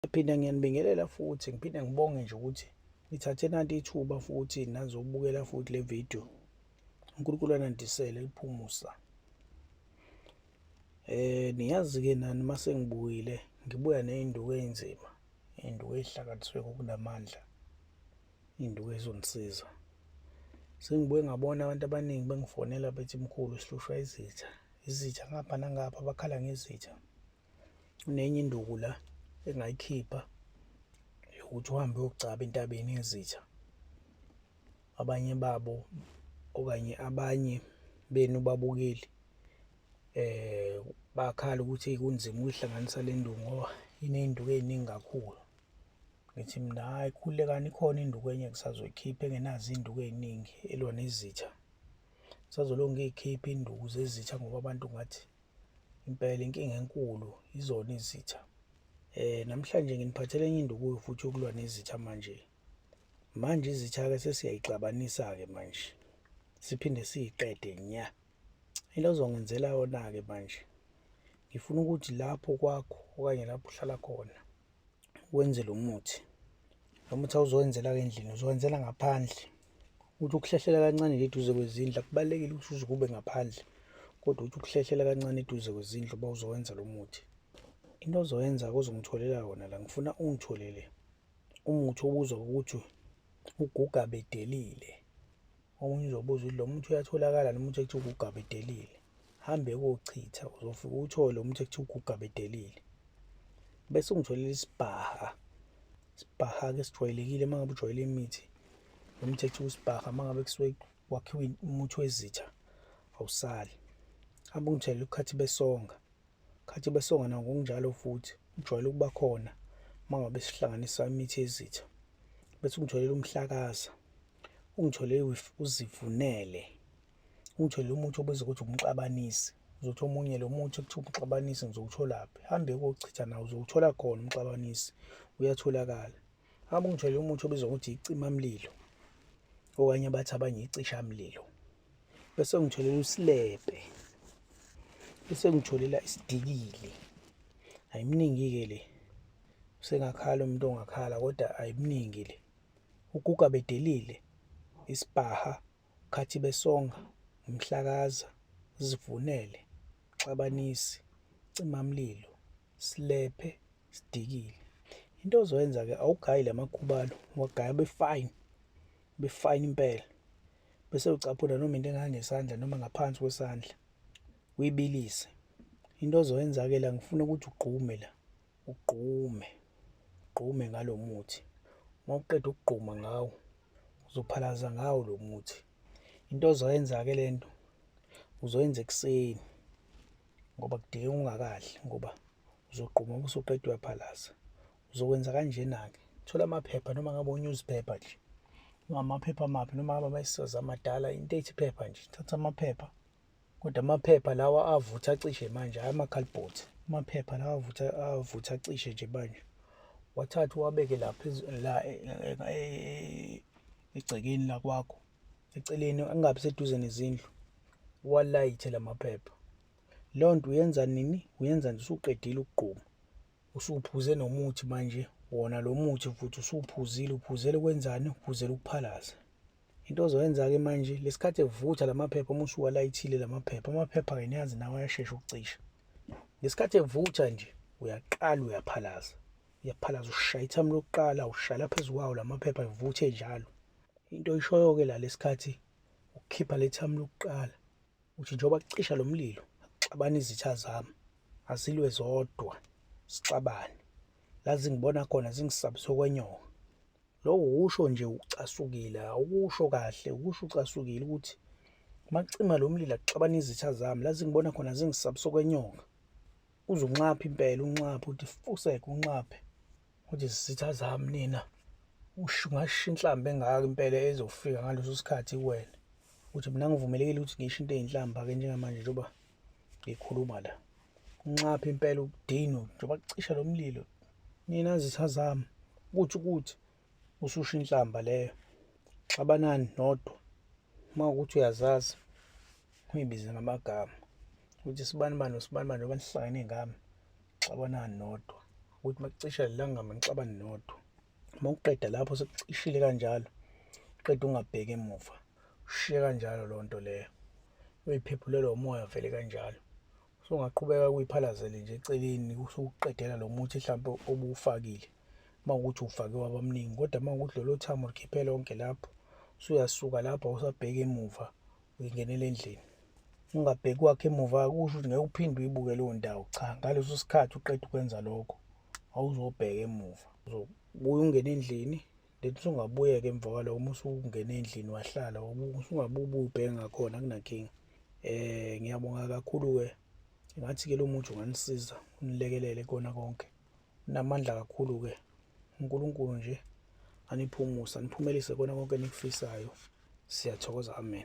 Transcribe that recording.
Ngiphinde ngiyanibingelela futhi ngiphinde ngibonge nje ukuthi nithathe nanti ithuba futhi nazobukela futhi le video uNkulunkulu anandisele liphumusa eh niyazi ke nani mase ngibuyile ngibuya nezinduku ezinzima induku ezihlakaniswe ngokunamandla induku ezonisiza sengibuye ngabona abantu abaningi bengifonela bethi mkhulu sihlushwa izitha izitha ngapha nangapha bakhala ngezitha kunenye induku la engayikhipha yokuthi uhambe uyogcaba entabeni yezitha abanye babo okanye abanye benu babukeli eh bakhala ukuthi kunzima ukuyihlanganisa le nduku ngoba iney'nduku ey'ningi kakhulu ngithi mina hhayi khulekani ikhona induku enye ngisazoyikhipha engenazo iy'nduku ey'ningi elwa nezitha ngisazolonge ngiy'khiphe induku zezitha ngoba abantu ngathi Impela inkinga enkulu izona izitha. Eh namhlanje nginiphathele enye induku futhi yokulwa nezitha manje. Manje izitha ke sesiyayixabanisa ke manje. Siphinde siyiqede nya. Into ozongenzela yona ke manje. Ngifuna ukuthi lapho kwakho okanye lapho uhlala khona wenze lo muthi lo muthi awuzowenzela-ke endlini uzowenzela ngaphandle ukuthi ukuhlehlela kancane le duze kwezindlu akubalulekile ukuthi uze kube ngaphandle kodwa ukuthi ukuhlehlela kancane eduze kwezindlu uba uzowenza lo muthi into ozoyenza kuzongitholela wona la ngifuna ungitholele umuthi obuzwa ukuthi uguga bedelile Omunye uzobuza ukuthi lo muthi uyatholakala noma uthi ekuthiwa ugugaba edelile. Hambe kochitha uzofike uwuthole lo muthi ekuthiwa ugugaba edelile. Bese ungitholela isibhaha. Isibhaha-ke sijwayelekile uma ngabe ujwayele imithi. Lo muthi ekuthiwa usibhaha uma ngabe kusuke wakhiwe umuthi wezitha awusali. Hambe ungitholela ukhathi besonga. Khathi besongana ngokunjalo futhi ujwayele ukuba khona uma ngabe sihlanganisa imithi yezitha. Bese ungitholele umhlakaza, ungitholele uzivunele, ungitholele umuthi obizwa ukuthi umxabanisi. Uzothi omunye lo muthi kuthiwa umxabanisi ngizowutholaphi? Hambe kochitha nawo uzowuthola khona umxabanisi, uyatholakala. Hamba ungithole umuthi obizwa ukuthi icimamlilo okanye abathi abanye icishamlilo bese ngitholela usilebhe bese ngitholela isidikili ayiminingi-ke le usengakhala umuntu ongakhala kodwa ayiminingi le uguga bedelile isipaha khathi besonga umhlakaza zivunele xabanisi cimamlilo silephe sidikile into ozoyenza ke awugayi lamakhubalo wagaya befine befine impela bese ucaphula noma into engangesandla noma ngaphansi kwesandla uyibilise into ozoyenza ke la ngifuna ukuthi ugqume la ugqume ugqume ngalomuthi mawuqeda ukugquma ngawo uzophalaza ngawo lo muthi into ozoyenza ke lento uzoyenza ekuseni ngoba kudinga ungakadli ngoba uzogquma uma usuqeda uyaphalaza uzokwenza kanjena-ke thola amaphepha noma ngabe unewspaper nje ngamaphepha amaphi noma ngabe amayisazi amadala into ethi phepha nje thatha amaphepha kodwa amaphepha lawa avutha acishe manje hhayi amakhalibhothi amaphepha lawa avutha avutha acishe nje manje wathatha uwabeke lapha la e, e, e, egcekeni lakwakho eceleni angabi seduze nezindlu walayithe lamaphepha leyo nto uyenza nini uyenza nje usuqedile ukugquma usuphuze nomuthi manje wona lo muthi futhi usuphuzile uphuzele kwenzani uphuzele ukuphalaza into ozoyenza-ke manje lesikhathi evutha lamaphepha uma usuwalayithile lamaphepha amaphepha-ke niyazi nawo ayashesha ukucisha ngesikhathi evutha nje uyaqala uyaphalaza uyaphalaza ushaya ithamu lokuqala ushaya phezu kwawo lamaphepha evuthe njalo Into oyishoyo-ke la lesikhathi ukukhipha le thamu lokuqala uthi njengoba kucisha lo mlilo akuxabane izitha zami azilwe zodwa sixabane la zingibona khona zingisabise okwenyoka lokho ukusho nje ucasukile awukusho kahle ukusho ucasukile ukuthi uma kucima lo mlilo akuxabane izitha zami la zingibona khona zingisabise okwenyoka uze unxaphe impela unxaphe uthi fuseke unxaphe Uthi zisitha zami nina ungasho inhlamba engaka impela ezofika ngaleso sikhathi kuwena ukuthi mina ngivumelekile ukuthi ngisho into eyinhlamba-ke njengamanje njengoba ngikhuluma la unxaphe impela ukudinwa njengoba kucisha lo mlilo nina zitha zami ukuthi ukuthi ususho inhlamba leyo xabanani nodwa uma ukuthi uyazazi uyibize ngamagama ukuthi sibani bani usibani bani njengoba nihlangene ngami Xabanani nodwa ukuthi makucisha lelangama nixabane nodwa uma uqeda lapho sekucishile kanjalo uqeda ungabheki emuva ushiye kanjalo loo nto leyo uyiphephulelwa umoya vele kanjalo so ungaqhubeka kuyiphalazele nje eceleni usuqedela lo muthi mhlawumbe obuwufakile uma ukuthi ufake wabamningi kodwa uma ukuthi lolo thamo likhiphe lonke lapho usuyasuka lapho awusabheki emuva uyingenela endlini ungabheki kwakhe emuva kusho ukuthi ngeke uphinde uyibuke leyo ndawo cha ngaleso sikhathi uqeda ukwenza lokho awuzobheka emuva uzobuya ungene endlini then usungabuyeka emva kwaloko uma usungene endlini wahlala usungabubi ubheke ngakhona kunankinga um ngiyabonga kakhulu-ke ngathi-ke lo muthi unganisiza unilekelele kona konke Namandla kakhulu-ke. UNkulunkulu nje aniphe umusa, aniphumelise kukona konke enikufisayo. Siyathokoza. Amen.